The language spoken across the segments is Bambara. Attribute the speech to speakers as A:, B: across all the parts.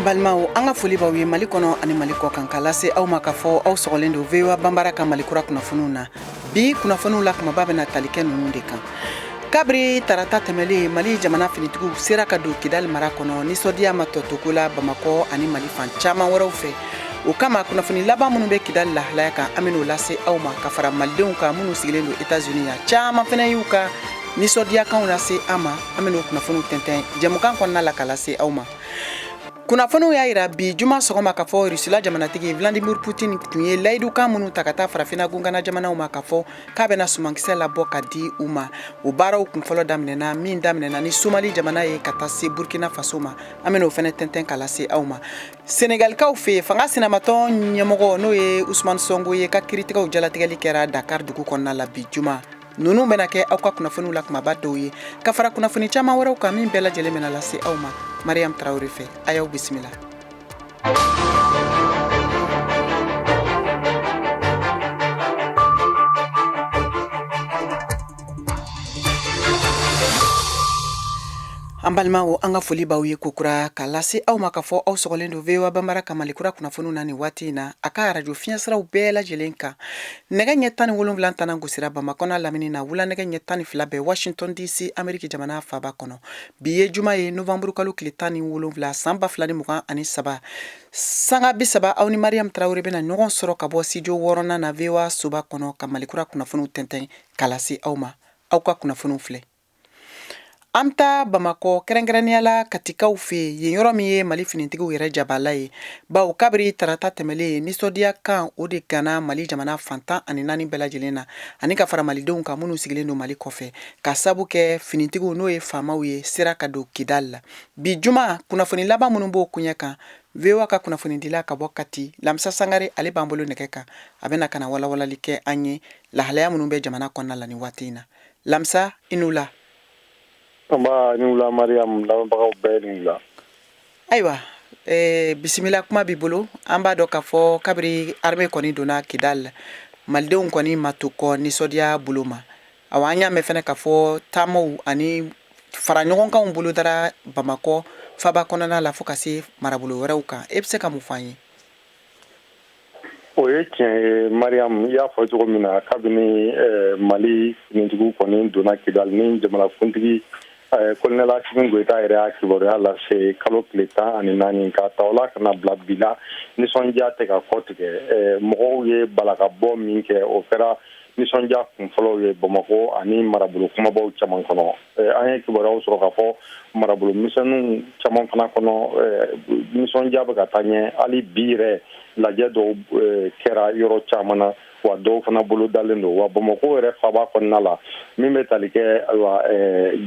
A: balimaw an ka foli b'aw ye mali kɔnɔ ani mali kɔkan ka lase aw ma k'a fɔ aw sɔgɔlen don voa bambara ka mali kura kunnafoniw na bi kunnafoniw la kumaba bɛna tali kɛ ninnu de kan kabiri tarata tɛmɛlen mali jamana finitigiw sera ka don kidali mara kɔnɔ nisɔndiya ma tɔ to ko la bamakɔ ani mali fan caman wɛrɛw fɛ o kama kunnafoni laban minnu bɛ kidali lahalaya kan an bɛn'o lase aw ma ka fara malidenw kan minnu sigilen don etats-unis yan caman fana y'u ka nisɔndiyakanw lase an ma an bɛn'o kunnafoniw tɛntɛn jɛmukan kɔnɔna la ka lase aw ma kunnafoniw y'a jira bi juma sɔgɔma k'a fɔ russie la jamanatigi vladimir putin tun ye layidukan minnu ta ka taa farafina gunkana jamanaw ma k'a fɔ k'a bɛna sumankisɛ labɔ ka di u ma o baaraw kun fɔlɔ daminɛna min daminɛna ni somali jamana ye ka taa se burkina faso ma an bɛna o fana tɛntɛn ka lase aw ma senegalikaw fɛ fanga sinamatɔn ɲɛmɔgɔ n'o ye usman sonko ye ka kiritigɛw jalatigɛli kɛra dakar dugu kɔnɔna la bi juma Ninnu bɛna kɛ aw ka kunnafoniw la kumaba dɔw ye ka fara kunnafoni caman wɛrɛw kan min bɛɛ lajɛlen bɛna lase aw ma mariam traore fɛ a y'aw bisimila an balimaw an ka foli b'aw ye kokura ka lase aw ma k'a fɔ aw sɔgɔlen don voa bambara ka mali kura kunnafoniw na ni waati in na a ka arajo fiɲɛsiraw bɛɛ lajɛlen kan Nɛgɛ ɲɛ tan ni wolonfila tɛna gosira bamakɔ n'a lamini na wula nɛgɛ ɲɛ tan ni fila bɛ washington dc ameriki jamana faba kɔnɔ bi ye juma ye nowanburukalo tile tan ni wolonfila san ba fila ni mugan ani saba sanga bi saba aw ni mariam traore bɛna ɲɔgɔn sɔrɔ ka bɔ studio wɔɔrɔnan na voa soba kɔnɔ ka mali kura kunnafoniw tɛntɛn ka lase aw ma aw ka kunnafoniw filɛ An bɛ taa bamakɔ kɛrɛnkɛrɛnnenya la katikaw fɛ yen yɔrɔ min ye mali finitigiw yɛrɛ jabala ye bawo kabiri tarata tɛmɛlen nisɔndiyakanw de ganna mali jamana fan tan ani naani bɛɛ lajɛlen na ani ka fara malidenw kan minnu sigilen don mali kɔfɛ ka sabu kɛ finitigiw n'o ye famaw ye sera ka don kidali la bi juma kunnafoni laban minnu b'o koɲɛ kan voa ka kunnafonidila ka bɔ kati lamisa sangare ale b'an bolo nɛgɛ kan a bɛna ka na walawalali kɛ an ye lahalaya minnu bɛ jamana kɔnɔna la ni waati in na lamisa i ni wula
B: nba i ni wula mariam lamɛnbagaw bɛɛ ni wula
A: ayiwa bisimila kuma b'i bolo an b'a dɔn k'a fɔ kabiri armée kɔni donna kidali malidenw kɔni ma to kɔ nisɔndiya bolo ma awa an y'a mɛn fana k'a fɔ taamaw ani faraɲɔgɔnkanw bolodara bamakɔ faba kɔnɔna la fo ka se marabolo wɛrɛw kan e bɛ se ka mun f'an ye
B: O ye tiɲɛ ye mariam i y'a fɔ cogo min na kabini mali finitigiw kɔni donna kidali ni jamanakuntigi kolonɛli asimi goyita yɛrɛ y'a kibaruya lase kalo tile tan ani naani ka ta o la ka na bila bi la nisɔndiya tɛ ka kɔ tigɛ mɔgɔw ye balakabɔ min kɛ o kɛra nisɔndiya kunfɔlɔw ye bamakɔ ani marabolo kumabaw caman kɔnɔ an ye kibaruyaw sɔrɔ k'a fɔ marabolo misɛnninw caman fana kɔnɔ nisɔndiya bɛ ka taa ɲɛ hali bi yɛrɛ lajɛ dɔw kɛra yɔrɔ caman na wa dɔw fana bolodalen don wa bamakɔ yɛrɛ faaba kɔnɔna la min bɛ tali kɛ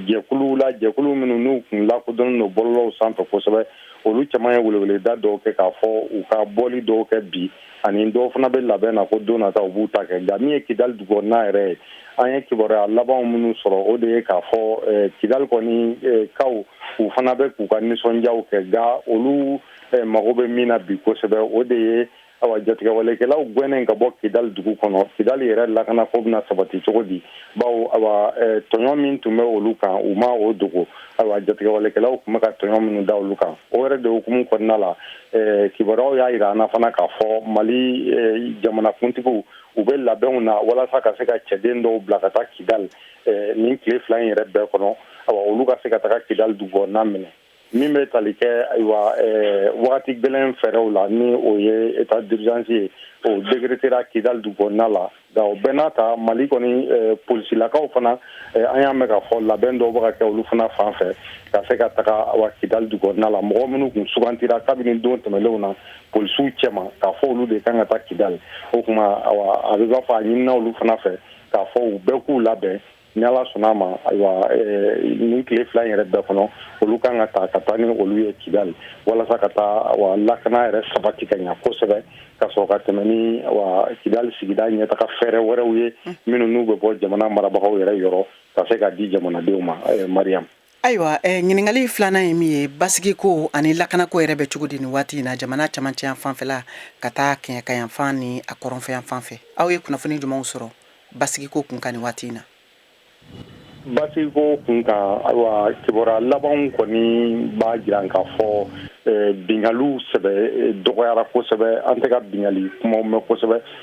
B: jɛkuluw la jɛkulu minnu n'u kun lakodɔnnen don bɔlɔlɔw sanfɛ kosɛbɛ olu caman ye weleweleda dɔw kɛ k'a fɔ u ka bɔli dɔw kɛ bi ani dɔw fana bɛ labɛn na ko don nata u b'u ta kɛ nka min ye kidali dugukɔnɔna yɛrɛ ye an ye kibaruya labanw minnu sɔrɔ o de ye k'a fɔ eh, kidali kɔni eh, kaw u fana bɛ k'u ka nisɔndiyaw kɛ nka olu eh, mago bɛ min na bi kosɛbɛ o de ye awa jatigɛwalekɛlaw gwɛnnen ka bɔ kidali dugu kɔnɔ kidali yɛrɛ lakanako bɛna sabati cogo di bawo awa tɔɲɔ min tun bɛ olu kan u ma o dogo awa jatigɛwalekɛlaw tun bɛ ka tɔɲɔ minnu da olu kan o yɛrɛ de hukumu kɔnɔna la eh, kibaruyaw y'a yira an na fana k'a fɔ mali eh, jamanakuntigiw u bɛ labɛnw na walasa ka se ka cɛden dɔw bila ka taa kidali eh, nin tile fila in yɛrɛ bɛɛ kɔnɔ awa olu ka se ka taga kidali dugukɔnɔna minɛ min bɛ tali kɛ ayiwa eh, wagati gɛlɛn fɛɛrɛw la ni o ye état d'urgence ye o décrétera kidali dugukɔnɔna la Nka o bɛɛ n'a ta mali kɔni polisilakaw fana an y'a mɛn k'a fɔ labɛn dɔw bɛ ka kɛ olu fana fan fɛ ka se ka taga awa kidali dugukɔnɔna la mɔgɔ minnu tun sugantira kabini don tɛmɛnlenw na polisiw cɛma k'a fɔ olu de kan ka taa kidali o tuma awa a bɛ b'a fɔ a ɲinina olu fana fɛ k'a fɔ u bɛɛ k'u labɛn ni ala sɔnna a ma ayiwa nin tile fila in yɛrɛ bɛɛ kɔnɔ olu kan ka taa ka taa ni olu ye kidali walasa ka taa wa lakana yɛrɛ sabati ka ɲɛ kosɛbɛ ka sɔrɔ ka tɛmɛ ni wa kidali sigida ɲɛtaga fɛɛrɛ wɛrɛw ye minnu n'u bɛ bɔ jamana marabagaw yɛrɛ yɔrɔ ka se ka di jamanadenw ma mariam
A: Ayiwa ɲininkakali filanan ye min ye basigiko ani lakanako yɛrɛ bɛ cogo di nin waati in na jamana camancɛ yanfan fɛla ka taa kɛɲɛkayanfan ni a kɔrɔnfɛyanfan fɛ aw ye kunnafoni jumɛnw sɔrɔ basigiko kun kan nin waati in
B: na basigiko kun kan ayiwa kibaruya labanw kɔni b'a jira k'a fɔ binkaliw sɛbɛ dɔgɔyara kosɛbɛ an tɛ ka binkali kuma mɛn kosɛbɛ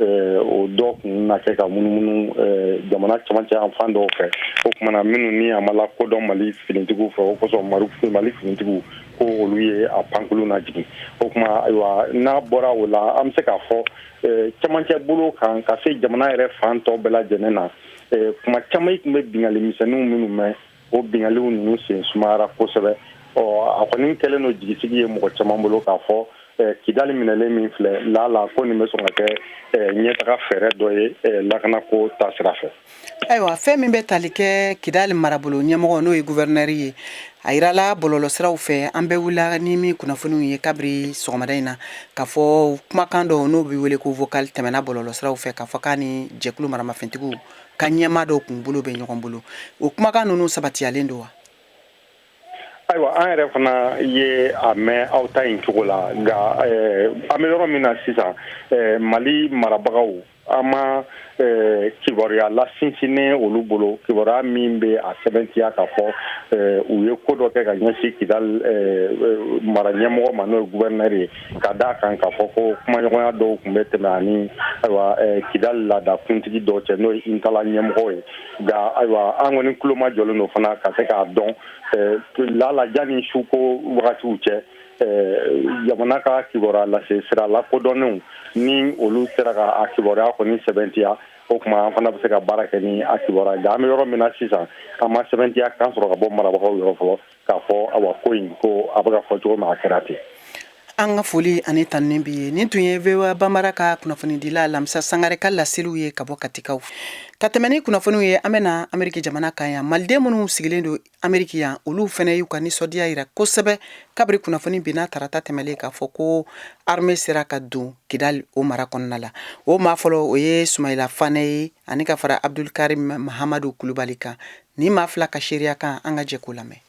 B: o dɔ tun na kɛ ka munumunu jamana camancɛ yanfan dɔw fɛ o tuma na minnu ni a ma lakodɔn mali finitigiw fɛ o kosɔn mali finitigiw ko olu ye a pankulun lajigin o tuma ayiwa n'a bɔra o la an bɛ se k'a fɔ camancɛ bolo kan ka se jamana yɛrɛ fan tɔw bɛɛ lajɛlen na tuma caman an tun bɛ bingali misɛnninw minnu mɛn o binkanniw ninnu sen sumayara kosɛbɛ ɔ a kɔni kɛlen don jigisigi ye mɔgɔ caman bolo k'a fɔ kidali minɛlen min filɛ laala ko nin bɛ sɔn ka kɛ ɲɛtaga fɛɛrɛ dɔ ye lakanako taasira fɛ ayiwa fɛn min
A: bɛ tali kɛ kidali marabolo ɲɛmɔgɔ n'o ye guvɛrinɛri ye a jirala bɔlɔlɔsiraw fɛ an bɛɛ wulila ni min kunnafoniw ye kabiri sɔgɔmada in na k'a fɔ kumakan dɔ n'o bɛ wele ko vocal tɛmɛna bɔlɔlɔsiraw fɛ k'a fɔ k'a ni jɛkulu maramafɛntigiw ka ɲɛmaa dɔw kun bolo bɛ ɲɔgɔn bolo o kumakan ninnu sabatiyalen don
B: wa ayiwa an yɛrɛ fana ye a mɛn aw ta in cogo la nka eh, an bɛ yɔrɔ min na sisan eh, mali marabagaw an ma eh, kibaruya lasinsinnen olu bolo kibaruya min bɛ a sɛbɛntiya k'a fɔ u ye ko dɔ kɛ ka ɲɛsin kidali mara ɲɛmɔgɔ ma n'o ye guvɛrinɛri ye ka d'a kan k'a fɔ ko kumaɲɔgɔnya dɔw tun bɛ tɛmɛ a ni ayiwa kidali laada kuntigi dɔw cɛ n'o ye intala ɲɛmɔgɔ ye nka ayiwa an kɔni tulomajɔlen don fana ka se k'a dɔn laala janni suko wagatiw cɛ jamana ka kibaruya lase sira lakodɔnnenw ni olu sera ka a kibaruya kɔni sɛbɛntiya o tuma an fana bɛ se ka baara kɛ ni a kibaruya nka an bɛ yɔrɔ min na sisan an ma sɛbɛntiya kan sɔrɔ ka bɔ marabagaw yɔrɔ fɔlɔ k'a fɔ awa ko in ko a bɛ ka fɔ cogo min a kɛra ten. An ka
A: foli ani tanuni b'i ye nin tun ye VOA Bambara ka kunnafonidila Lamisa Sangare ka laseliw ye ka bɔ Katikaw ka tɛmɛ ni kunnafoniw ye an bɛna Ameriki jamana kan yan maliden minnu sigilen don Ameriki yan olu fana y'u ka nisɔndiya jira kosɛbɛ kabiri kunnafoni binna tarata tɛmɛlen k'a fɔ ko arme sera ka don Kidali o mara kɔnɔna la o maa fɔlɔ o ye Sumayila Fane ye ani ka fara Abudul Karim Mahamadu Kulubali kan Nin maa fila ka seereya kan an ka jɛ k'o lamɛn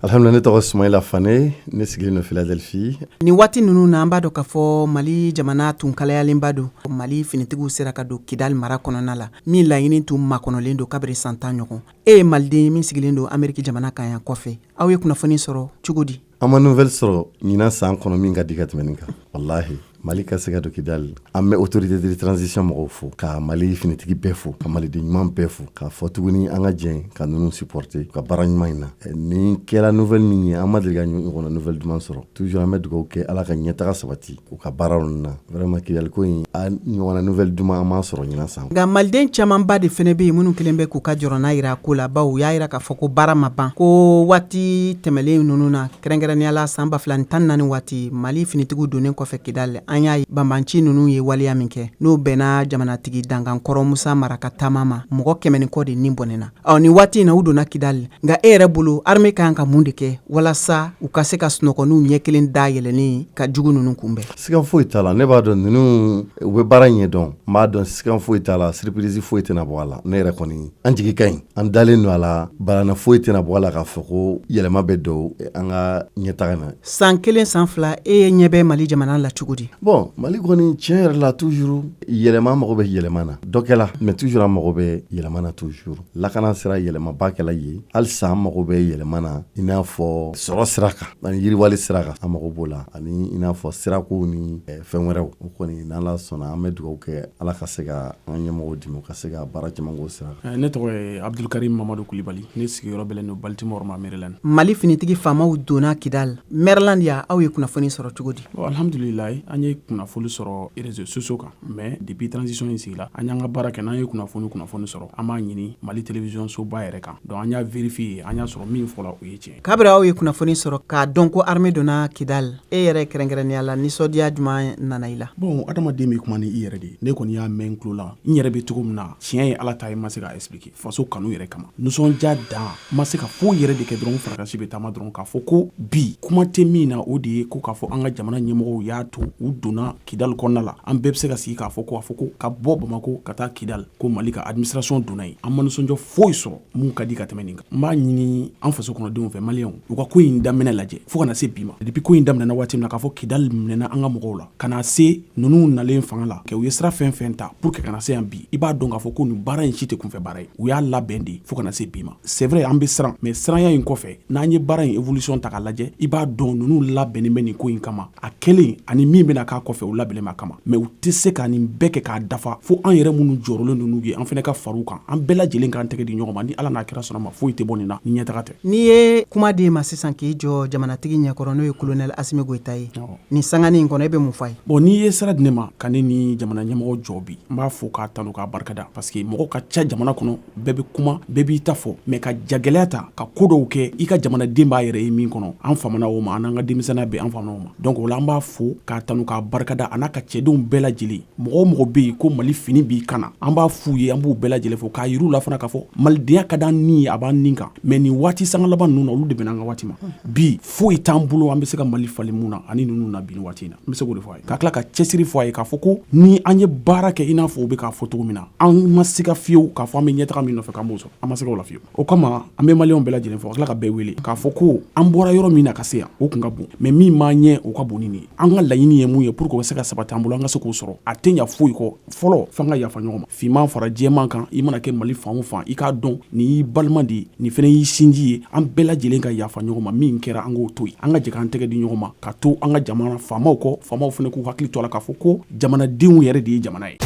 C: alhamdulillah ne tɔgɔ Sumayila Fane ne sigilen don Philadelphie nin waati ninnu
A: na an b'a dɔn k'a fɔ mali jamana tun kalayalenba don mali finitigiw sera ka don kidali mara kɔnɔna la min laɲini tun makɔnɔlen don kabiri san tan ɲɔgɔn e ye maliden min sigilen don ameriki jamana kan yan kɔfɛ aw ye kunnafoni sɔrɔ cogo di An ma nouvelle sɔrɔ
C: ɲinan san kɔnɔ min ka di ka tɛmɛ nin kan walahi Mali ka se ka don Kidali an bɛ autorité de transition mɔgɔw fo ka Mali finitigi bɛɛ fo ka maliden ɲuman bɛɛ fo k'a fɔ tuguni an ka jɛn ka ninnu supporter u ka baara ɲuman in na nin kɛra nouvelle min ye an ma deli ka nin ɲɔgɔnna nouvelle duman sɔrɔ toujours an bɛ dugawu kɛ Ala ka ɲɛtaga sabati. u ka baaraw na vraiment kidali ko in a ɲɔgɔnna nouvelle duman an m'a sɔrɔ ɲinan san nka maliden camanba
A: de fɛnɛ bɛ yen minnu kelen bɛ k'u ka jɔrɔna jira ko la bawo u y'a jira k'a fɔ ko baara ma ban ko waati tɛmɛlen ninnu na kɛrɛnkɛrɛnnenyala san ba fila ni tan naani waati mali finitigiw donnen kɔfɛ kidali an y'a ye banbanci ninnu ye waleya min kɛ n'o bɛnna jamanatigi dankan kɔrɔ musa mara ka taama ma mɔgɔ kɛmɛ ni kɔ de ni bɔnɛna Ɔ nin waati in na u donna kidali nka e yɛrɛ bolo armée ka kan ka mun de kɛ walasa u ka se ka sunɔgɔ n'u ɲɛ kelen dayɛlɛlen ka jugu ninnu kunbɛn sigan foyi t'a la ne b'a
C: dɔn ninnu u bɛ baara ɲɛ dɔn n b'a dɔn sigan foyi t'a la surprise foyi tɛna bɔ a la ne yɛrɛ kɔni an jigi ka ɲi an dalen don a la balan foyi tɛna bɔ a la k'a fɔ ko yɛlɛma bɛ don an ka ɲɛtaga na san kelen san fila
A: e ye ɲɛ bɛ mali jamana la cogo di bon mali kɔni
C: tiɲɛ yɛrɛ la toujours Yɛlɛma an mago bɛ yɛlɛma na dɔ kɛla mais toujours an mago bɛ yɛlɛma na toujours lakana sira yɛlɛmaba kɛla yen halisa an mago bɛ yɛlɛma na i n'a fɔ sɔrɔ sira kan ani yiriwali sira kan an mago b'o la ani i n'a fɔ sirakow ni fɛn wɛrɛw o kɔni n'ala sɔnna an bɛ dugawu kɛ ala ka se ka an ka ɲɛmɔgɔw dɛmɛ u ka se ka baara caman k'o sira kan ne tɔgɔ ye abdul
D: karim mamadu kulubali ne sigiyɔrɔ bɛ don baltimore ma maryland mali finitigi faamaw
A: donna kidali maryland yan aw ye kunnafoni sɔrɔ cogo di Alhamdulilahi an
D: ye kunnafoni sɔrɔ réseaux sociaux kan mais depuis transition in sigila an y'an ka baara kɛ n'an ye kunnafoni kunnafoni sɔrɔ an b'a ɲini mali télévision soba yɛrɛ kan donc an y'a vérifier an y'a sɔrɔ min fɔla o ye tiɲɛ kabiri aw ye kunnafoni
A: sɔrɔ k'a dɔn ko armée donna kidali e yɛrɛ kɛrɛnkɛrɛnnenya la nisɔndiya jumɛn nana i la bon adamaden bɛ kuma
D: ni i yɛrɛ de ne kɔni y'a mɛn n tulo la n yɛrɛ bɛ cogo min na tiɲɛ ye ala ta ye n ma se k'a expliquer faso kanu yɛrɛ kama nisɔndiya dan n ma se ka foyi yɛrɛ de kɛ dɔrɔn n fari kan si bɛ taama dɔrɔn k'a fɔ ko bi kuma tɛ min na o de ye ko k'a fɔ an ka jamana ɲɛmɔgɔw y'a to u donna kidali kɔnɔna la an bɛɛ bɛ se ka sigi k'a fɔ ko a fɔ ko ka bɔ bamako ka taa kidali ko mali ka administration donna yen an ma nisɔndiya foyi sɔrɔ mun ka di ka tɛmɛ nin kan n b'a ɲini an faso kɔnɔdenw fɛ maliyɛnw u ka ko in daminɛ lajɛ fo ka na se bi ma depuis ko in daminɛna waati min na k'a fɔ kidali minɛna an ka mɔgɔw la ka na se ninnu nalen fanga la kɛ u ye sira fɛn fɛn ta pour que ka na se yan bi i b'a dɔn k'a fɔ ko nin baara in si tɛ kunfɛ baara ye u y'a labɛn de fo ka na se bi ma c'est vrai an bɛ siran mais siranya in kɔfɛ n'an ye baara in évolution ta k'a lajɛ i b'a dɔn ninnu labɛnnen bɛ nin ko in kama a kɛlen ani min bɛna k'a kɔfɛ u labɛnnen b'a kama mais u tɛ se ka nin bɛɛ kɛ k'a dafa fo an yɛrɛ minnu jɔrɔlen don n'u ye an fana ka far'u kan an bɛɛ lajɛlen k'an tɛgɛ di ɲɔgɔn ma ni ala n'a kira sɔnn'a ma foyi tɛ bɔ nin na ni ɲɛtaga tɛ n'i ye kuma di
A: e ma sisan k'i jɔ jamanatigi ɲɛkɔrɔ n'o ye colonel asimi goyita ye nin sangani in kɔnɔ e bɛ mun fɔ a ye bon n'i ye sira di ne
D: ma ka ne ni jamana ɲɛmɔgɔ jɔ bi n b'a fo k'a tanu k'a barikada parce que mɔgɔ ka ca jamana kɔnɔ bɛɛ bɛ kuma bɛɛ b'i ta fɔ mais ka jagɛlɛya ta ka ko dɔw kɛ i ka jamanaden b'a yɛrɛ ye min kɔnɔ an famana o ma an n'an ka denmisɛnniya bɛɛ an famana o ma donc o la an b'a fo k'a tanu k'a barikada a n'a ka cɛdenw bɛɛ lajɛlen mɔgɔ o mɔgɔ bɛ yen ko mali fini b'i kan na an b'a f'u ye an b'u bɛɛ lajɛlen fo k'a yir'u la fana k'a fɔ malidenya ka d'an ni ye a b'an ni kan mais nin waati sanga laban ninnu na olu de bɛnna an ka waati ma bi foyi t'an bolo an bɛ se ka mali falen mun na ani ninnu na bi nin waati in na n bɛ se k'o de fɔ a ye ka tila ka cɛsiri fɔ a ye k'a fɔ ko ni an ye baara kɛ i n'a fɔ u bɛ k'a fɔ cogo min na an ma sika fiyewu k'a fɔ an bɛ ɲɛtaga min nɔfɛ k'an b'o sɔrɔ an ma sika o la fiyewu o kama an bɛ maliyɛnw bɛɛ lajɛlen fo ka tila ka bɛɛ wele k'a fɔ ko an bɔra yɔrɔ min na ka se yan o kun ka bon mais min b'an ɲɛ o ka bon ni nin ye an ka laɲini ye mun ye pour que o ka se ka sabati an bolo an ka se k'o sɔrɔ a tɛ ɲa foyi kɔ fɔlɔ f'an ka yafa ɲɔgɔn ma finman fara jɛman kan i mana kɛ mali fan o fan i k'a dɔn nin y'i balima de ye nin fana y'i sinji ye an bɛɛ lajɛlen ka yafa ɲɔgɔn ma min kɛra an k'o to yen an ka jɛ k'an tɛgɛ di ɲɔgɔn ma ka to an ka jamana faamaw kɔ faamaw fana k'u hakili to a la k'a fɔ ko jamanadenw yɛrɛ de ye jamana ye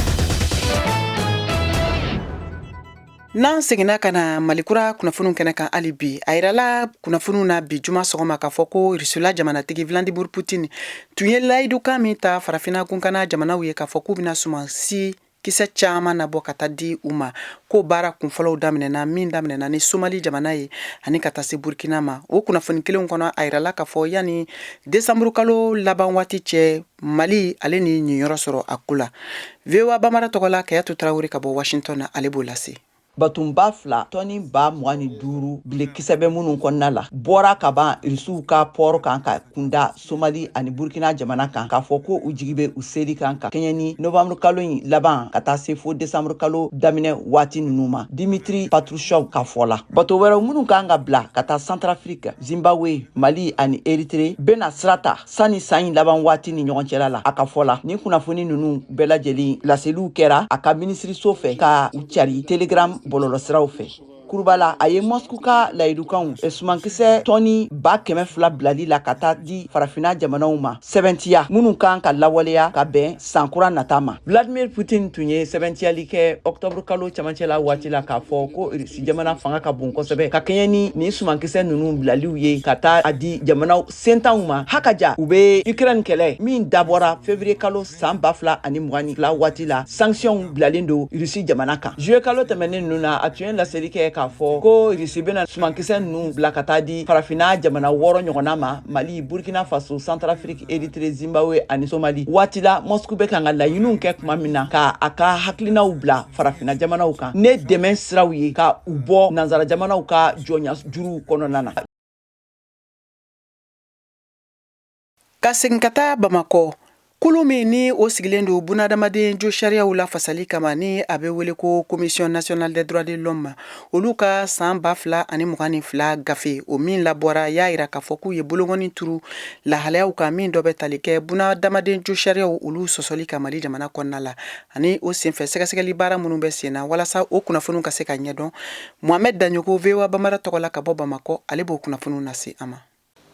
A: N'an seginna ka na malikura kunnafoniw kɛnɛ kan hali bi a yirala kunnafoniw na bi juma sɔgɔma k'a fɔ ko rusila jamanatigi vladimir putin tun ye layidukan min ta farafinna kunkana jamanaw ye k'a fɔ k'u bɛna sumansi kisɛ caman nabɔ ka taa di u ma ko baara kunfɔlɔw daminɛna min daminɛna ni somali jamana ye ani ka taa se burukina ma o kunnafoni kelenw kɔnɔ a yirala k'a fɔ yanni desanburukalo laban waati cɛ Mali ale n'i niyɔrɔ sɔrɔ a ko la voa bamara tɔgɔ la kayatu tarawele ka bɔ washington na ale b'o lase Batonba
E: fila tɔni ba mugan ni duuru bilekisɛ bɛ minnu kɔnɔna la bɔra ka ban irisiw ka pɔɔrɔ kan ka kunda somali ani burkina jamana kan k'a fɔ ko u jigi bɛ u seli kan ka kɛɲɛ ni novanburukalo in laban ka taa se fo desanburukalo daminɛ waati ninnu ma dimitri patrushev ka fɔ la bato wɛrɛw minnu kan ka bila ka taa santarafirika zimbabwe mali ani eritre bɛna sira ta sanni san in laban waati ni ɲɔgɔn cɛla la a ka fɔ la nin kunnafoni nunu bɛɛ lajɛlen laseliw kɛra a ka minisiriso fɛ ka u cari telegram bɔlɔlɔsiraw fɛ kurubala a ye mɔsku ka layidukanw sumankisɛ tɔni ba kɛmɛ fila bilali la ka taa di farafina jamanaw ma sɛbɛntiya minnu kan ka lawaleya ka bɛn san kura nata ma vladimir putin tun ye sɛbɛntiyali kɛ ɔktɔburu kalo camancɛ la waati la k'a fɔ ko irisi jamana fanga ka bon kosɛbɛ ka kɛɲɛ ni nin sumankisɛ ninnu bilaliw ye ka taa a di jamanaw sentanw ma hakaja u be ukraine kɛlɛ min dabɔra fevrier kalo san ba fila ani mugan ni fila waati la sankisiyɔnw bilalen don rusi jamana kan zuye kalo tɛmɛnin nunu na a tun ye laseli kɛ k'a fɔ ko rusi bena sumankisɛ nunu bila ka taa di farafina jamana wɔɔrɔ ɲɔgɔnna ma mali burkina faso santarafiriki eritre zimbabwe ani somali waati la mɔsku be kan ka laɲiniw kɛ kuma min na ka a ka hakilinaw bila farafina jamanaw kan ni dɛmɛ siraw ye ka u bɔ nansara jamanaw ka jɔnya juruw kɔnɔna na
A: ka segin ka taa bamakɔ kulu min ni o sigilen don bunadamaden josariyaw lafasali kama ni a bɛ wele ko commission nationale des droits de l'homme olu ka san ba fila ani mugan ni fila gafe o min labɔra y'a yira k'a fɔ k'u ye bolokɔnin turu lahalayaw kan min dɔ bɛ tali kɛ bunadamaden josariyaw olu sɔsɔli kan mali jamana kɔnɔna la ani o senfɛ sɛgɛsɛgɛli baara minnu bɛ sen na walasa o kunnafoniw ka se ka ɲɛdɔn mohamɛd daɲɔgɔ voa bamara tɔgɔ la ka bɔ bamakɔ ale b'o kunnafoniw lase aw ma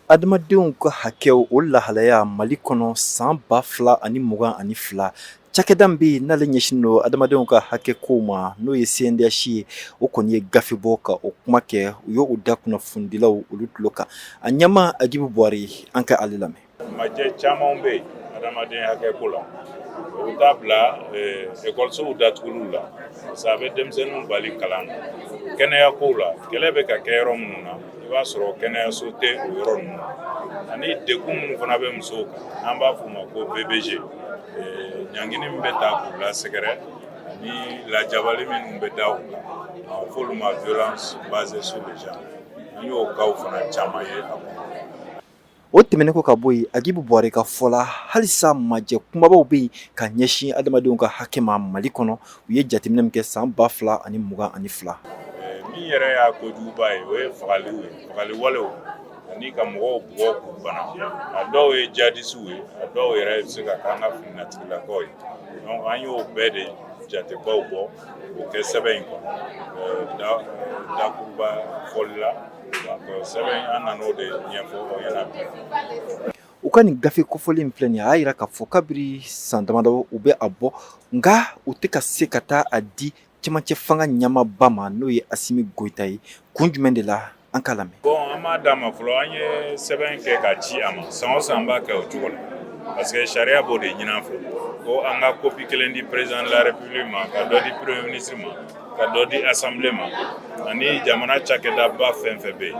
A: adamadenw ka
F: hakɛw o lahalaya mali kɔnɔ san ba fila ani mugan ani fila cakɛda bɛ yen n'ale ɲɛsin don adamadenw ka hakɛ kow ma n'o ye cndh ye o kɔni ye gafe bɔ ka o kuma kɛ u y'o da kunnafonidilaw olu tulo kan a ɲɛmaa agibu buware an ka ale lamɛn majɛ caman
G: bɛ yen adamaden hakɛ ko la o bɛ taa bila ekɔlisow datuguliw la parce que a bɛ denmisɛnninw bali kalan na kɛnɛya kow la kɛlɛ bɛ ka kɛ yɔrɔ minnu na i b'a sɔrɔ kɛnɛyaso tɛ o yɔrɔ ninnu na ani degun minnu fana bɛ musow kan n'an b'a f'o ma ko vbg ɲangini min bɛ ta k'u lasɛgɛrɛ ani lajabali minnu bɛ da u kan a f'olu ma violence basée sur le genre an y'o kaw fana caman ye a kɔnɔ
F: O tɛmɛnen kɔ ka bɔ yen agibu buware ka fɔ la halisa majɛ kunbabaw bɛ yen ka ɲɛsin adamadenw ka hakɛ ma mali kɔnɔ u ye jateminɛ min kɛ san ba fila ani mugan ani fila min
G: yɛrɛ y'a kojuguba ye o ye fagaliw ye fagali walew ani ka mɔgɔw bugɔ k'u bana a dɔw ye jadisiw ye a dɔw yɛrɛ bɛ se ka k'an ka fininatigilakaw ye donc an y'o bɛɛ de jatebaw bɔ o kɛ sɛbɛn in kɔnɔ bakuruba fɔli la sɛbɛn an nan'o de ɲɛfɔ aw ɲɛna u
F: ka nin gafe kofɔlen in filɛ nin ye a y'a yira k'a fɔ kabiri san damadɔ u bɛ a bɔ nka u tɛ ka se ka taa a di cɛmancɛ fanga ɲɛmaaba ma n'o ye asimi goyita ye kun jumɛn de la an k'a lamɛn bon an m'a d'a ma
G: fɔlɔ an ye sɛbɛn kɛ ka ci a ma san o san an b'a kɛ o cogo la parce que sariya b'o de ɲin'an fɛ ko an ka kopi kelen di président de la république ma ka dɔ di premier ministre ma ka dɔ di assemblée ma ani jamana cakɛdaba fɛn fɛn bɛ yen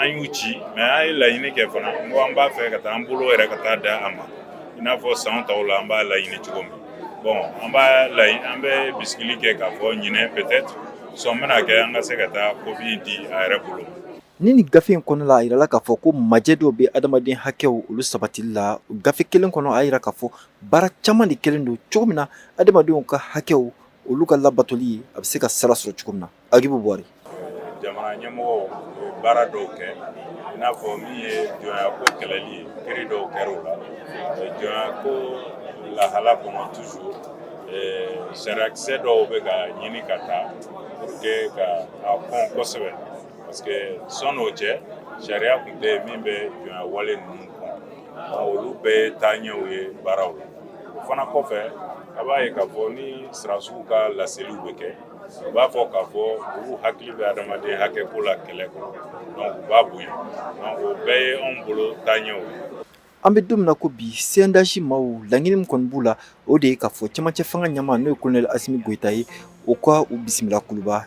G: an y'u ci mais an ye laɲini kɛ fana ko an b'a fɛ ka taa an bolo yɛrɛ ka taa di a ma i n'a fɔ san tɔw la an b'a laɲini cogo min bon an b'a an bɛ bisigili kɛ k'a fɔ ɲinɛ peut-être sɔn bɛna kɛ an ka se ka taa kopi di a yɛrɛ bolo ni nin gafe
F: in kɔnɔ la a yirala k'a fɔ ko majɛ dɔw bɛ adamaden hakɛw olu sabatili la gafe kelen kɔnɔ a yira k'a fɔ baara caman de kɛlen don cogo min na adamadenw ka hakɛw olu ka labatoli ye a bɛ se ka sira sɔrɔ cogo min na agibu buware
G: jamana ɲɛmɔgɔw ye baara dɔw kɛ i n'a fɔ min ye jɔnyako kɛlɛli ye kiri dɔw kɛra o la jɔnyako lahala kɔnɔ toujours sariyakisɛ dɔw bɛ ka ɲini ka ta pour que ka a kɔn kosɛbɛ parce que sɔnni o cɛ sariya tun tɛ yen min bɛ jɔnya wale ninnu kɔn olu bɛɛ ye taaɲɛw ye baaraw la o fana kɔfɛ a b'a ye k'a fɔ ni sɔrɔdasiw ka laseliw bɛ kɛ u b'a fɔ k'a fɔ olu hakili bɛ adamaden hakɛ ko la kɛlɛ kɔnɔ donc u b'a bonya donc o bɛɛ ye anw bolo taaɲɛw ye an bɛ don min
F: na ko bi cndh maaw laɲini min kɔni b'u la o de ye k'a fɔ cɛmancɛ fanga ɲɛmaa n'o ye kolonɛli asimi goyita ye o ka u bisimila kuluba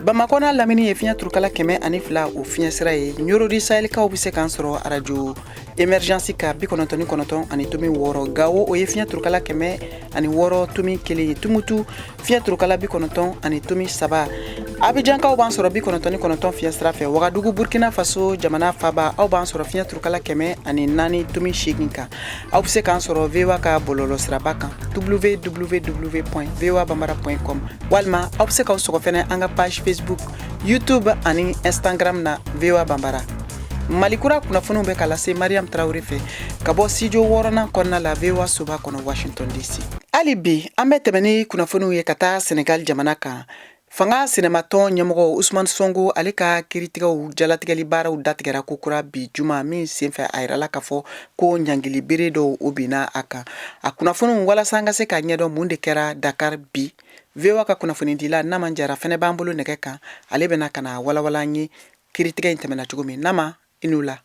A: Bamakɔ n'a lamini ye fiɲɛ turukala kɛmɛ ani fila o fiɲɛ sira ye Ɲɔrɔ du Sahɛlikaw bɛ se k'an sɔrɔ arajo Emergence ka bi kɔnɔntɔn ani kɔnɔntɔn ani tomi wɔɔrɔ Gawo o ye fiɲɛ turukala kɛmɛ ani wɔɔrɔ tomi kelen ye tumutu fiɲɛ turukala bi kɔnɔntɔn ani tomi saba Abijankaw b'an sɔrɔ bi kɔnɔntɔn ani kɔnɔntɔn fiɲɛsira fɛ wagadugu burukina faso jamana faba aw b'an sɔrɔ fiɲɛ turukala kɛmɛ ani naani tomi segin kan aw bɛ se k'an sɔrɔ VOA ka bɔlɔlɔ siraba kan www.voabambara.com walima aw bɛ se k'aw sɔgɔ fɛnɛ an ka page facebook youtube ani instagram na VOA Bambara mali kura kunnafoniw bɛ ka lase mariam tarawele fɛ ka bɔ studio wɔɔrɔnan kɔnɔna la VOA soba kɔnɔ washington dc hali bi an bɛ tɛmɛ ni kunnafoniw ye ka taa senegal jamana kan Fanga sinamatɔn ɲɛmɔgɔ Usumani Sonko ale ka kiritigɛw jalatigɛli baaraw datigɛra ko kura bi juma min senfɛ a yirala k'a fɔ ko ɲangili bere dɔw o binna a kan. A kunnafoniw walasa an ka se k'a ɲɛdɔn mun de kɛra Dakar bi, VOA ka kunnafonidila Nama Jara fɛnɛ b'an bolo nɛgɛ kan, ale bɛna ka n'a walawala an ye kiritigɛ in tɛmɛna cogo min. Nama, i ni wula.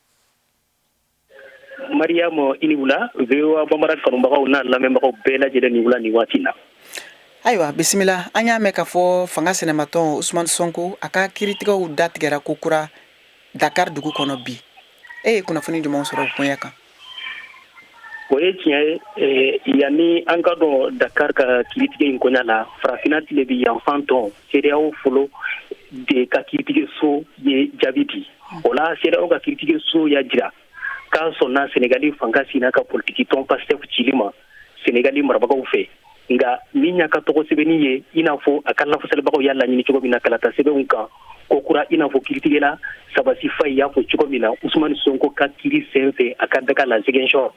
H: Mariam i ni wula VOA Bambara kanubagaw n'a lamɛnbagaw bɛɛ lajɛlen ni wula ni waati na
A: ayiwa bisimila an y'a mɛn k'a fɔ fanga sinamatɔn Usumani Sonko a ka kiiritigɛw datigɛra ko kura dakari dugu kɔnɔ bi e ye kunnafoni jumɛn sɔrɔ koɲa
H: kan o ye tiɲɛ ye yanni an ka don dakari ka kiiritigɛ in koɲa la farafinna tilebin yanfan tɔn CEDEAO fɔlɔ de ka kiiritigɛso ye jaabi di o la CEDEAO ka kiritigɛ so y'a jira k'a sɔnna senegali fanga sina ka politigi tɔn Pastef cili ma senegali marabagaw fɛ nka min y'a ka tɔgɔ sɛbɛnni ye i n'a fɔ a ka lafasalibagaw y'a laɲini cogo min na kalata sɛbɛnw kan ko kura i n'a fɔ kiritigɛla Sabassy Faye y'a fɔ cogo min na usumani sonko ka kiri sen fɛ a ka daga la Ziguinchor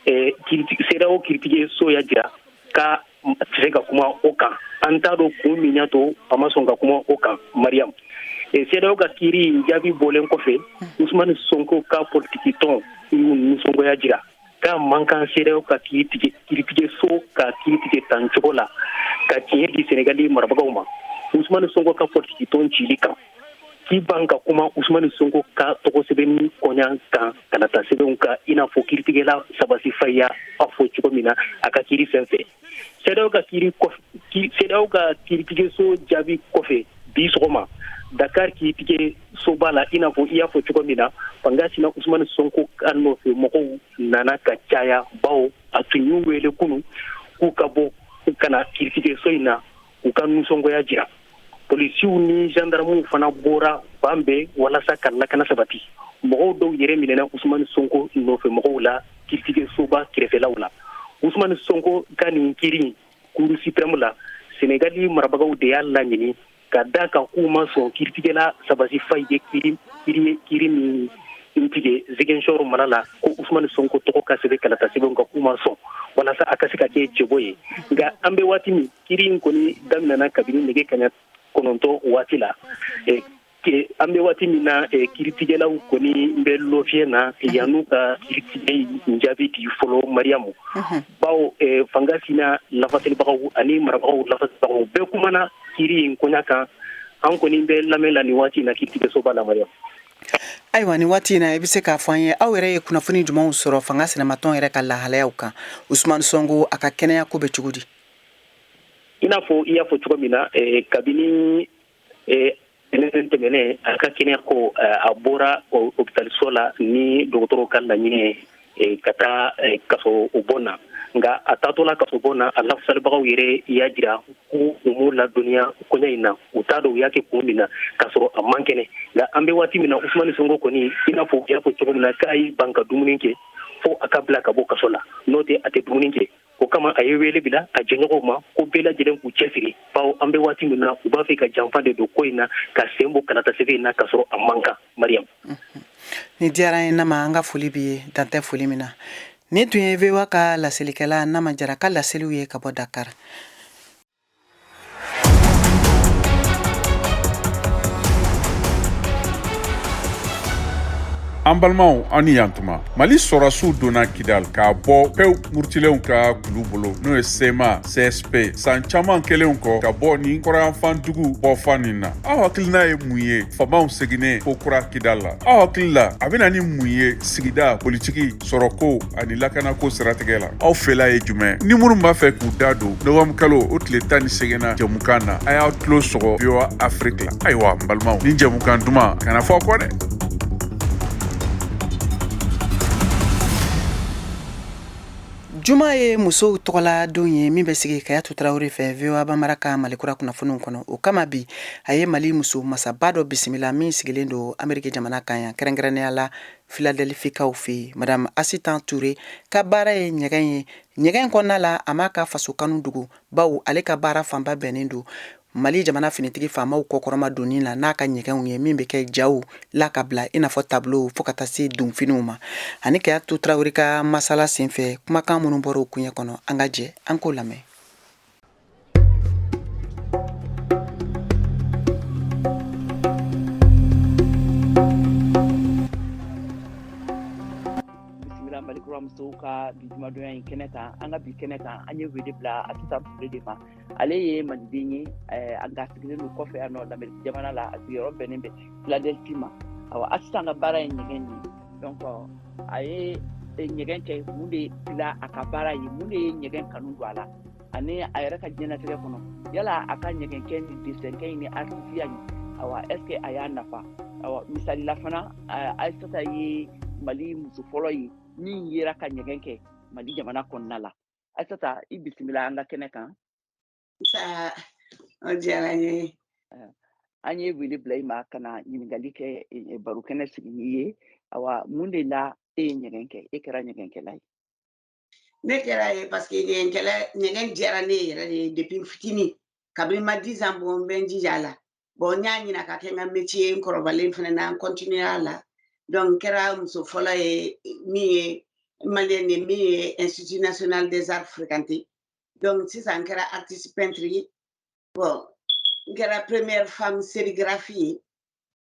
H: CEDEAO kiritigɛ so y'a jira k'a tɛ se ka kuma o kan an t'a dɔn kun min y'a to a ma sɔn ka kuma o kan mariam CEDEAO ka kiiri in jaabi bɔlen kɔfɛ usumani sonko ka politiki tɔn y'u nisɔngoya jira k'a man kan CEDEAO ka kiiritigɛ so ka kiiri tigɛ tan cogo la ka tiɲɛ di senegali marabagaw ma usumani sonko ka politiki tɔn cili kan k'i ban ka kuma usumani sonko ka tɔgɔ sɛbɛnni koɲa kan kalata sɛbɛnw kan i n'a fɔ kiritigɛla Sabassy Faye y'a fɔ cogo min na a ka kiri sen fɛ CEDEAO ka kiritigɛso jaabi kɔfɛ bi sɔgɔma dakar kiritigɛ soba la i n'a fɔ i y'a fɔ cogo min na fanga sina usumani sonko ka nɔfɛ mɔgɔw nana ka caya bawo a tun y'u wele kunun k'u ka bɔ ka na kiritigɛso in na u ka nisɔngoya jira polisiw ni zandaramuw fana bɔra fan bɛɛ walasa ka lakana sabati mɔgɔw dɔw yɛrɛ minɛna usumani sonko nɔfɛ mɔgɔw la kiiritigɛsoba kɛrɛfɛlaw la usumani sonko ka nin kiiri cour suprême la senegali marabagaw de y'a laɲini ka d'a kan k'u ma sɔn kiiritigɛla sabasi faye ye kiiri kiiri min tigɛ ziguinchor mara la ko usumani sonko tɔgɔ ka sɛbɛn kalata sɛbɛnw kan k'u ma sɔn walasa a ka se ka kɛ cɛbɔ ye nka an bɛ waati min kiiri in kɔni daminɛna kabini nɛgɛ kaɲa kɔnɔntɔn waati la an bɛ waati min na kiiritigɛlaw kɔni bɛ lafiɲɛ na yann'u ka kiiritigɛ jaabi di fɔlɔ mariamu bawo fanga sina lafasalibagaw ani marabagaw lafasalibagaw bɛɛ kumana kiiri in koɲa kan an kɔni bɛ lamɛn la nin waati in na kiiritigɛsoba la mariamu ayiwa
A: nin waati in na i bɛ se k'a fɔ an ye aw yɛrɛ ye kunnafoni jumɛnw sɔrɔ fanga sinamatɔn yɛrɛ ka lahalayaw kan usman sonko a ka kɛnɛya ko bɛ cogo di
H: i n'a fɔ i y'a fɔ cogo min na eh, kabini eh, tɛnɛn tɛmɛnen a ka kɛnɛya ko eh, a bɔra hopitaliso la ni dɔgɔtɔrɔw ka laɲini ye eh, ka taa eh, kasobon na nka a taatɔ la kasobon na a lafasalibagaw yɛrɛ y'a jira ko u m'u ladɔnniya koɲɛ in na u t'a dɔn u y'a kɛ kun min na k'a sɔrɔ a man kɛnɛ nka an bɛ waati min na usumani sonko kɔni i n'a fɔ u y'a fɔ cogo min na k'a y'i ban ka dumuni kɛ fo a ka bila ka bɔ kaso la n'o tɛ a tɛ dumuni kɛ o kama a ye wele bila a jɛɲɔgɔnw ma ko bɛɛ lajɛlen k'u cɛsiri bawo an bɛ waati min na u b'a fɛ ka janfa de don ko in na k'a sen bɔ kalatasɛbɛn in na k'a sɔrɔ a man kan mariyamu
A: nin diyara an ye nama an ka foli b'i ye dan tɛ foli min na nin tun ye voa ka laselikɛla nama jara ka laseliw ye ka bɔ dakari
I: an balimaw aw ni yantuma mali sɔrɔsiw donna kidal k'a bɔ pew murutilenw ka kulu bolo n'o ye cma csp san caaman kɛlenw kɔ ka bɔ nin kɔrɔnyanfan dugu bɔfan nin na aw hakilina ye mun ye faamaw seginnen ko kura kidal la aw hakili la a bɛ na ni mun ye sigida politiki sɔrɔko ani lakanako siratigɛ la aw fɛla ye jumɛn ni minnu b'a fɛ k'u da don novembre kalo o tile tan ni seginnan jɛmukan na a y'a tulo sɔgɔ voa afiriki la ayiwa n balimaw nin jɛmukan duman kana fɔ kɔ dɛ
A: juma ye musow tɔgɔla don ye min bɛ sigi kayatu tarawele fɛ voa bambara ka malikura kunnafoniw kɔnɔ o kama bi a ye mali muso masaba dɔ bisimila min sigilen don ameriki jamana kan yan kɛrɛnkɛrɛnnenya la filadelifikaw fɛ yen madame Asitan Ture ka baara ye ɲɛgɛn ye ɲɛgɛn kɔnɔna la a m'a ka faso kanu dogo bawo ale ka baara fanba bɛnnen don Mali jamana finitigi faamaw kɔkɔrɔmadonni la n'a ka ɲɛgɛnw ye min bɛ kɛ jaw la ka bila i n'a fɔ tableau fo ka taa se donfiniw ma a ni Kayatu Tarawele ka masala senfɛ kumakan minnu bɔra o kuɲɛ kɔnɔ an ka jɛ an k'o lamɛn
E: musow ka bi jumadonya in kɛnɛ kan an ka bi kɛnɛ kan an ye wele bila aisata ture de ma ale ye maliden ye eh, nka a sigilen don kɔfɛ yan nɔ lamɛriki jamana la a sigiyɔrɔ bɛnnen bɛ filadelfi ma awa aisata ka baara ye ɲɛgɛn de ye donc a ye eh, ɲɛgɛn kɛ mun de bila a ka baara ye mun de ye ɲɛgɛn kanu don a la ani a yɛrɛ ka diɲɛnatigɛ kɔnɔ yala a ka ɲɛgɛnkɛ ni desɛnkɛ in ni artisiya in awa est ce que a y'a nafa awa misali la fana aisata ye mali muso fɔlɔ ye min yera ka ɲɛgɛn kɛ mali jamana kɔnɔna la aisata i bisimila an ka kɛnɛ
J: kan o diyara n ye an
E: ye wele bila i ma ka na ɲininkali kɛ e, barokɛnɛ sigi n'i ye awa mun de la e ye ɲɛgɛn kɛ e kɛra ɲɛgɛnkɛla ye
J: ne kɛra a ye parce que ɲɛgɛn kɛli ɲɛgɛn diyara ne yɛrɛ de ye depuis fitinin kabini n ma dix ans bɔ n bɛ n jija a la bon n y'a ɲini a ka kɛ n ka métier n kɔrɔbalen fana na n continuer a la donc n kɛra muso fɔlɔ ye min ye maliyɛn ye min ye institut national des arts fréquenter donc sisan n kɛra artiste peintre ye bon n kɛra première femme sérigraphie ye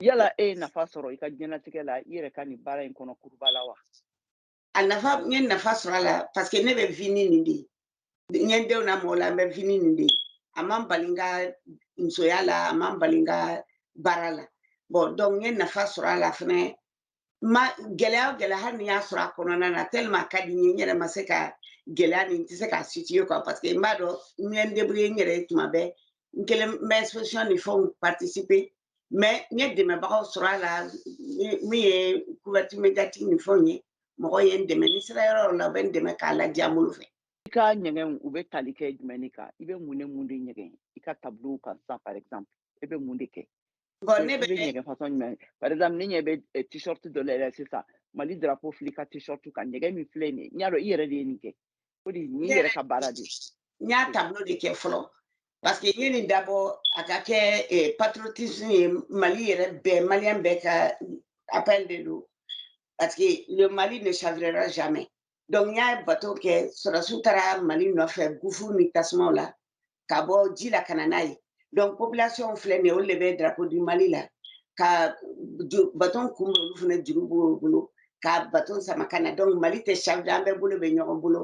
E: yala e ye nafa sɔrɔ i ka diɲɛlatigɛ la i yɛrɛ ka nin baara in kɔnɔ kuruba la wa a
J: nafa n ye nafa sɔrɔ a la parce que ne bɛ vivre ni nin de ye n ye denw lamɔ a la n bɛ vivre ni nin de ye a ma n bali n ka musoya la a ma n bali n ka baara la bon donc n ye nafa sɔrɔ a la fɛnɛ mais gɛlɛya o gɛlɛya hali ni n y'a sɔrɔ a kɔnɔna na tellement a ka di n ye n yɛrɛ ma se ka gɛlɛya nin n tɛ se k'a situer quoi parce que n b'a dɔn n ye n débrouiller n yɛrɛ ye tuma bɛɛ n kelen n bɛ exposition ni fɛnw participer mais n ye dɛmɛbagaw sɔrɔ a la min ye couverture médiatique ni fɛnw ye mɔgɔ ye n dɛmɛ ni n sera yɔrɔ yɔrɔ la u bɛ n dɛmɛ k'a ladiya n bolo fɛ i ka ɲɛgɛn
E: u bɛ tali kɛ jumɛn de kan i bɛ mun ni mun de ɲɛgɛn i ka tableau kan sisan par exemple e bɛ mun de kɛ bon ne
J: bɛ ɲɛgɛn fasɔn
E: jumɛn par exemple ne ɲɛ bɛ eh, t-shirt dɔ la yɛrɛ sisan mali drapeau filɛ i ka t-shirt kan ɲɛgɛn min filɛ nin ye n y'a dɔn i yɛrɛ de ye nin kɛ o de ne yɛrɛ ka baara de n y'a
J: tableau de kɛ fɔlɔ parce que n ye nin dabɔ a ka kɛ eh, patriotisme ye mali yɛrɛ bɛɛ maliyɛn bɛɛ ka appel de don parce que le mali ne chavirera jamais donc n y'a bateau kɛ sɔrɔdasiw taara mali nɔfɛ gouffre ni tasumaw la ka bɔ ji la ka na n'a ye donc population filɛ nin ye olu de bɛ drapeau du mali la ka bateau kunbɛn olu fana juru b'u bolo ka bateau sama ka na donc mali tɛ chavirer an bɛɛ bolo bɛ ɲɔgɔn bolo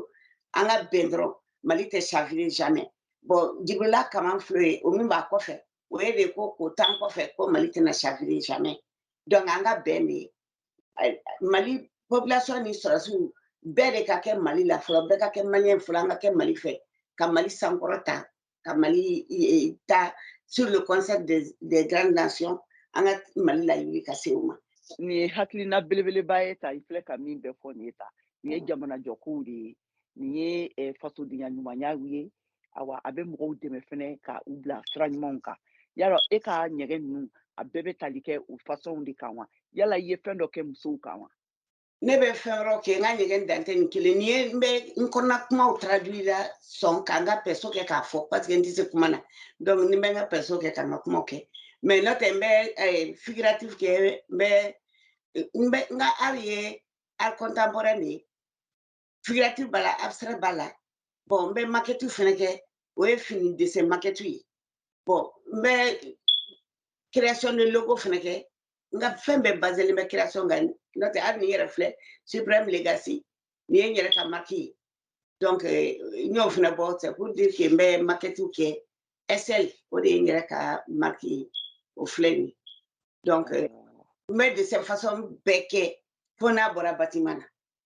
J: an ka bɛn dɔrɔn mali tɛ chavirer jamais bon jibrila kaman filɛ ye o min b'a kɔfɛ o ye de ko k'o t'an kɔfɛ ko mali tɛna chavirer jamais donc an ka bɛn de ye mali population ni sɔrɔsiw bɛɛ de ka kɛ mali la fɔlɔ bɛɛ ka kɛ maliyɛn fɔlɔ an ka kɛ mali fɛ ka mali sankɔrɔta ka mali ta sur le concept des, des grandes nations an ka mali lawuli ka se o ma nin ye hakilina
E: belebeleba ye ta i filɛ ka min bɛɛ fɔ nin ye ta nin ye jamanajɔkow de ye nin ye eh, fasodenya ɲumanyaw ye awa a bɛ mɔgɔw dɛmɛ fɛnɛ ka u bila sira ɲumanw kan yala e ka ɲɛgɛn ninnu a bɛɛ bɛ tali kɛ o fasɔnw de kan wa yala i ye fɛn dɔ kɛ musow kan wa ne bɛ
J: fɛn wɛrɛw kɛ n ka ɲɛgɛn dan tɛ nin kelen ni ye n bɛ n kɔnɔna kumaw traduit la sɔn ka n ka perso kɛ k'a fɔ parce que n tɛ se kuma na donc ne bɛ n ka perso kɛ ka n ka kumaw kɛ mais n'o tɛ n bɛ figuratif kɛ n bɛ n bɛ n ka art ye art contemporain de ye figuratif b'a la abstrait b'a la bon n bɛ maquettew fɛnɛ kɛ o ye fini dessin maquette ye bon n bɛ création de logo fɛnɛ kɛ n ka fɛn bɛɛ baselen bɛ création kan n'o tɛ hali ni n yɛrɛ filɛ supreme legacy nin ye n yɛrɛ ka marque ye donc eh, n y'o fɛnɛ bɔ c'est pour dire que n bɛ maquettew kɛ sl o de ye n yɛrɛ ka marque ye o filɛ nin ye donc eh, n bɛ dessin façon bɛɛ kɛ fo n'a bɔra bâtiment na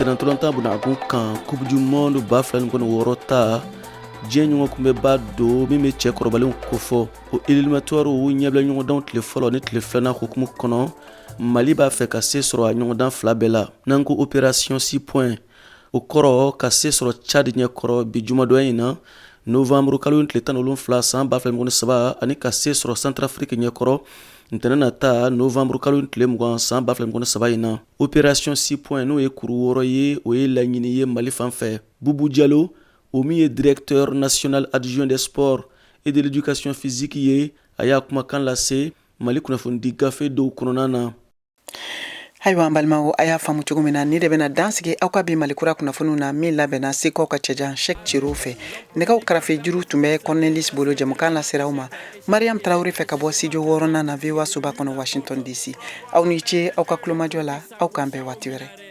K: sennantolatan bɛna a kun kan coupe du monde ba fila ni mugan ni wɔɔrɔ ta diɲɛ ɲɔgɔn kunbɛnba don min bɛ cɛ kɔrɔbalenw kofɔ o éliminatoirew ɲɛbila ɲɔgɔndanw tile fɔlɔ ni tile filanan hukumu kɔnɔ mali b'a fɛ ka se sɔrɔ a ɲɔgɔndan fila bɛɛ la n'an ko opération six points o kɔrɔ ka se sɔrɔ cadi ɲɛ kɔrɔ bi jumadon in na nowanburu kalo in tile tan ni wolonwula san ba fila mugan saba ani ka se sɔrɔ santarafiriki ɲɛ kɔrɔ ntɛnɛn nata nowanburu kalo in tile mugan san ba fila mugan saba in na operasiyɔn six points n'o ye kuru wɔɔrɔ ye o ye laɲini ye mali fan fɛ bubu jalo o min ye directeur national adjoint des sports et de l'éducation physique ye a y'a kumakan lase mali kunnafonidi gafe dɔw kɔnɔna na
A: ayiwa an balimaw a y'a faamu cogo min na nin de bɛna dansigi aw ka bi mali kura kunnafoniw na min labɛnna sekaw ka cɛjan sɛk cɛro fɛ nɛgɛw karafe juru tun bɛ kɔrɔnɛlis bolo jamukan lasera aw ma mariam tarawele fɛ ka bɔ studio wɔɔrɔnan na voa soba kɔnɔ washington dc aw ni ce aw ka kulomajɔ la aw k'an bɛn waati wɛrɛ